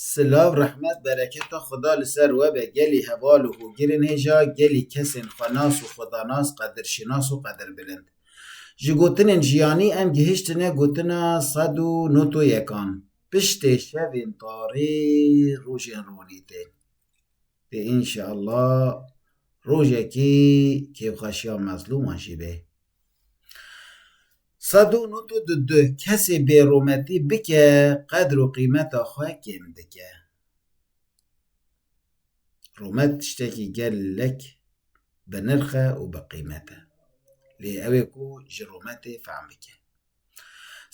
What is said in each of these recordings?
Silav rehmet bereketa Xweda li ser we be gelî heval û hogir in hêja gelî kesên xwenas û xwedanas qedirşinas û qedirbilind. Ji gotinên jiyanî em gihiştine gotina sed û noto yekan piştê şevên tarê rojên ronî tên. Dê înşeallah rojekî kêfxweşiya mezlûman jî bê. Sed û nod û du du Kesê bêrometî bike qedr û qîmeta xwe kêm dike. Romet tiştekî gelek bi nirx e û bi qîmet e. Lê ew ê ku ji rometê fehm bike.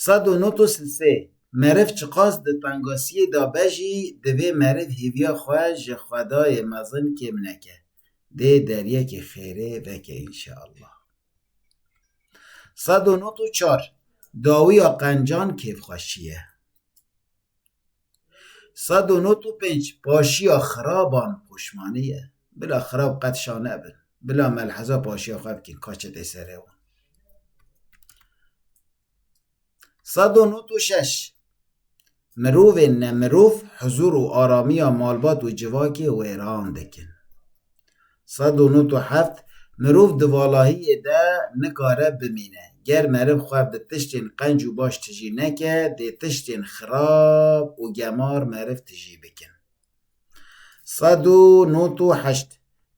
Sed û nod û si sê. Meriv çiqas di tengasiyê de be jî divê meriv hêviya xwe ji xwedayê mezin kêm neke. Dê deryekê xêrê veke înşeallah. Sed û nod û çar. Dawiya qencan kêfxweşî ye. Sed û nod û pênc, Paşiya xiraban poşmanî ye. Bila xirab qet şa nebin. Bila melheza paşiya xwe bikîn, ka çetê serê wan. Sed û nod û şeş, Mirovên nemirov huzûr û aramiya malbat û civakê wêran dikin. Sed û nod û heft Mirov di valahiyê de nikare bimîne. Ger meriv xwe bi tiştên qenc û baş tijî neke, dê tiştên xirab û gemar meriv tijî bikin. Sed û nod û heşt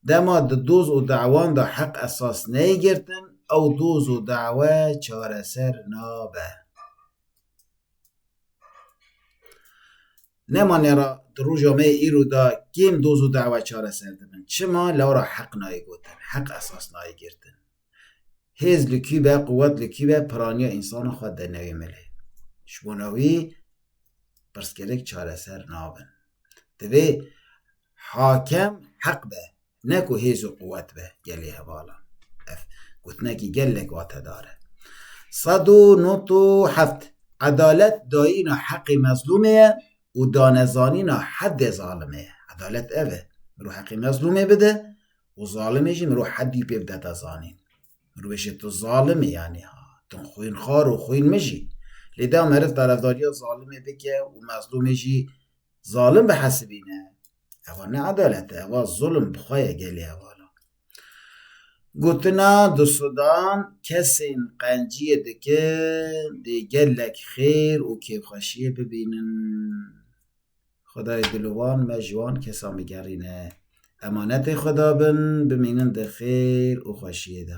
Dema di doz û dewan de heq esas neyê girtin, ew doz û dewe çareser nabe. Nemane ra di roja me yê îro de kêm doz û dawa çareser dibin. Çima? Lewra ra heq nayê gotin, heq esas nayê girtin. Hêz li kî be, quwet li kî be, piraniya însanan xwe dide newê milê. Ji bona wî pirsgirêk çareser nabin. Divê hakim heq be. Ne ku hêz û quwet be gelê hevalan. Ev gotinekî gelek watedar e. Sed û nod û heft, Edalet dayîna heqê mezlûmê ye û danezanîna heddê zalimê ye. Edalet ev e, mirov heqê mezlûmê bide û zalimê jî mirov heddî pê bide da zanîn. Mirov bêje tu zalim î yanî ha, tu xwînxwar û xwînmij î. Lê da meriv tarefdariya zalimê bike û mezlûmê jî zalim bihesibîne, Ewa ne adalet e, ewa zulm bi xwe ye gelê hevala. Gotina di Sudan kesên qenciyê dikin dê gelek xêr û kêfxweşiyê bibînin. Xwedayê dil û wan me ji wan kesan bigerîne. Emanetê xwe dabin, bimînin di xêr û xweşiyê de.